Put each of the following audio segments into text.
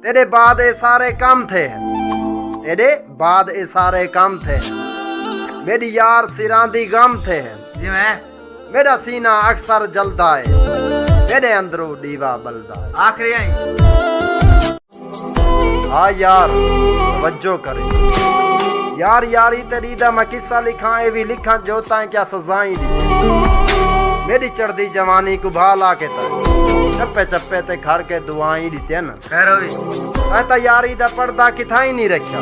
تیرے بعد اے سارے کام تھے ہیں تیرے بعد اے سارے کام تھے ہیں میری یار سیران دی غم تھے ہیں جی میں میرا سینہ اکثر جلدا ہے میرے اندرو دیوا بلدا ہے آخری آئی ہاں یار توجہ کرے یار یاری تیری دا میں قصہ لکھاں اے بھی لکھاں جو تائیں کیا سزائیں دی میری چڑھ دی جوانی کو بھالا کے تائیں چپے چپے تے کھڑ کے دعائیں دی تین اے تا یاری دا پردہ کتھاں ہی نہیں رکھیا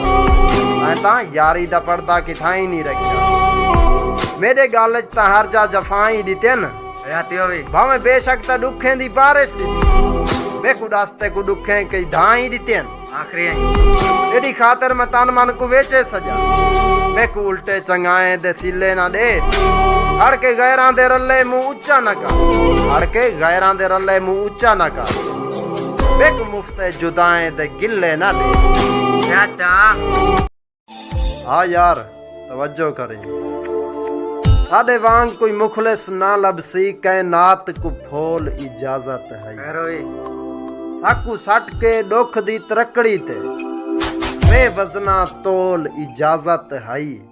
اے تا یاری دا پردہ کتھاں ہی نہیں رکھیا میرے گل وچ تا ہر جا جفاں ہی دتین یاتی ہووی بھاویں بے شک تا دکھیں دی بارش دتی بے کو دستے کو دکھیں کئی دھاں ہی دتین آخری ہیں ایڈی خاطر میں تن من کو ویچے سجا بے کو الٹے چنگائیں دے سیلے نہ دے ہڑ کے غیران دے رلے مو اچا نہ کر ہڑ کے غیران دے رلے مو اچا نہ کر بک مفت ہے جدائیں دے گلے نہ دے چاچا ہا یار توجہ کریں ساڈے وانگ کوئی مخلص نہ لبسی کائنات کو پھول اجازت ہے ساکو سٹ کے ڈوکھ دی ترکڑی تے بے وزنا تول اجازت ہے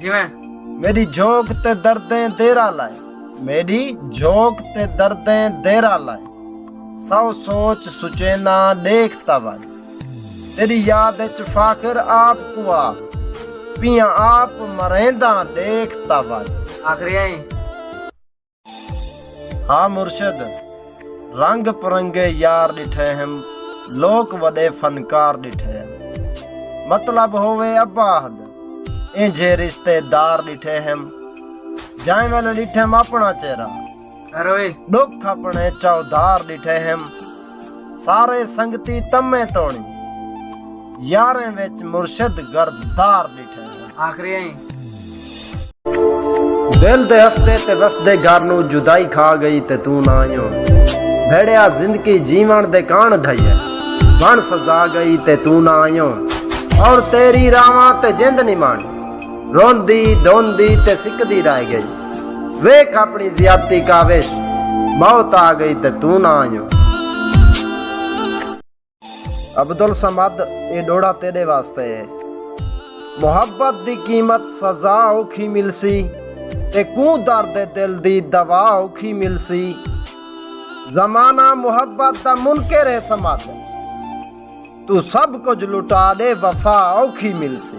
جیویں میݙی جھوک تے دردیں دیرہ لائے میݙی جھوک تے دردیں دیرہ لائے سو سوچ سچینداں ݙیکھ تاں وائے تیݙی یاد اچ فاخر آپ کوں آ پیاں آپ مرینداں ݙیکھ تاں وائے آخریاں ایں ہا مرشد رنگ پرنگے یار ݙٹھے ہن لوک وݙے فنکار ݙٹھے ہن مطلب ہووے ابا احد اینجھے رشتے دار ݙٹھے ہن جائیں ویلے ݙٹھم اپݨا چہرہ ݙکھ اپݨے چودھار ݙٹھے ہن سارے سنگتی تمیں توڑی یاریں وچ مرشد گرد دار ڈیٹھے آخری آئیں دل دے ہستے تے وسدے گھر نو جدائی کھا گئی تے توں نہ آئیوں بھڑیا زندگی جیون دے کان ڈھائی ہے بن سزا گئی تے توں نہ آئیوں اور تیری راواں تے جند نہیں مان روندی دوندی تے سکدی رہ گئی ویکھ اپݨی زیادتی کاوش موت آ گئی تے توں نہ آئیوں۔ عبدالصمد اے ݙوڑھا تیݙے واسطے اے۔ محبت دی قیمت سزا اوکھی ملسی تے کوں درد دل دی دوا اوکھی ملسی۔ زمانہ محبت دا منکر اے صمد توں سب کجھ لٹا ݙے وفا اوکھی ملسی۔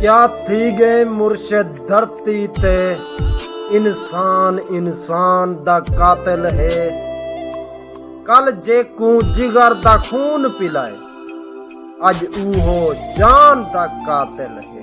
کیا تھی گئے مرشد دھرتی تے انسان انسان دا قاتل ہے کل جے کو جگر دا خون پلائے اج اوہو جان دا قاتل ہے